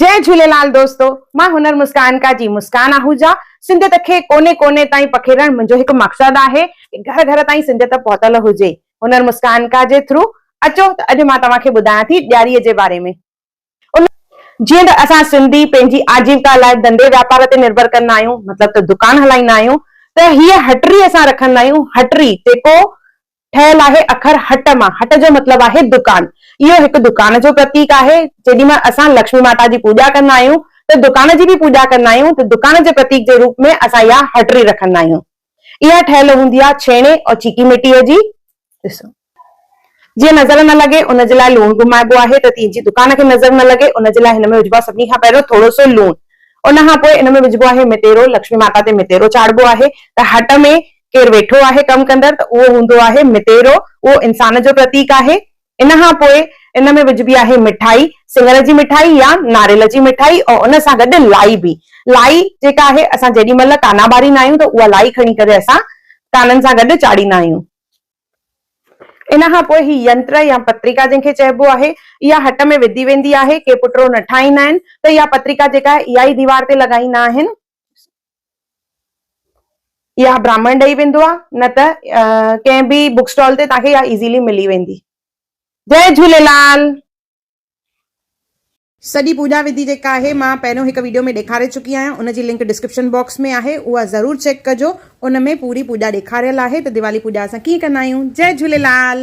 جئي جهوليلال دوستو مان هنر مسڪان ڪا جي مسڪان آهوجا سنڌيت کي ڪوني ڪوني تائين پکيڙڻ منهنجو هڪ مقصد آهي ڪي گهر گهر تائين سنڌيت پهتل هجي هنر مسڪان ڪا جي ٿرو اچو ته اڄ مان توهان کي ٻڌايان ٿي ڏياري جي باري ۾ ان جيئن ته اسان سنڌي پنهنجي آجيوڪا لاء ڌنڌي واپار تي نرڀر ڪندا آهيون مطلب ته دڪان هلائيندا آهيون ته هيء هٽري اسان رکندا آهيون هٽري جيڪو ٺهيل آهي اکر هٽ مان. هٽ جو مطلب آهي دڪان. اهو هڪ دڪان جو پرتيڪ آهي. جيڏي مهل اسان لڪشمي ماتا جي پوڄا ڪندا آهيون ته دڪان جي به پوڄا ڪندا آهيون ته دڪان جي پرتيڪ جي روپ ۾ اسان اها هٽڙي رکندا آهيون. اها ٺهيل هوندي آهي ڇيڻي ۽ چيڪي مٽيء جي. ڏسو جيئن نظر نه لڳي ان جي لاء لوڻ گهمائبو آهي ته تيجي دڪان کي نظر نه لڳي ان جي لاء هن ۾ وجهبو آهي سڀني کان پهريون ٿورو سو لوڻ ان کان پوء ان ۾ وجهبو آهي متيرو لڪشمي ماتا تي متيرو چاڙهبو آهي ته هٽ ۾ ڪير ويٺو آهي ڪم ڪندڙ ته اهو هوندو آهي متيرو، اهو انسان جو پرتيڪ آهي. ان کان پوء ان ۾ وجهبي آهي مٺائي، سڱر جي مٺائي يا ناريل جي مٺائي ۽ ان سان گڏ لائي به. لائي جيڪا آهي اسان جيڏي مهل ڪانا ٻاريندا آهيون ته اها لائي کڻي ڪري اسان ڪانن سان گڏ چاڙهيندا آهيون. ان کان پوء هي ينتر يا پتريڪا جنهن کي چئبو آهي، اها هٽ ۾ وڌي ويندي آهي. ڪي پٽڙو نه ٺاهيندا آهن ته اها پتريڪا جيڪا آهي اها ئي ديوار تي لڳائيندا آهن. يا براهمڻ ڏئي ويندو آ نه ته ڪنهن به بوڪ اسٽال تي توهان کي اها ايزيلي ملي ويندي جئي جهوليلال. سڄي پوڄا وڌي جيڪا آهي مان پهريون هڪ ويڊيو ۾ ڏيکاري چڪي آهيان ان جي لنڪ ڊسڪرپشن باڪس ۾ آهي اها ضرور چيڪ ڪجو ان ۾ پوري پوڄا ڏيکاريل آهي ته ديوالي پوڄا اسان ڪيئن ڪندا آهيون جئي جهوليلال.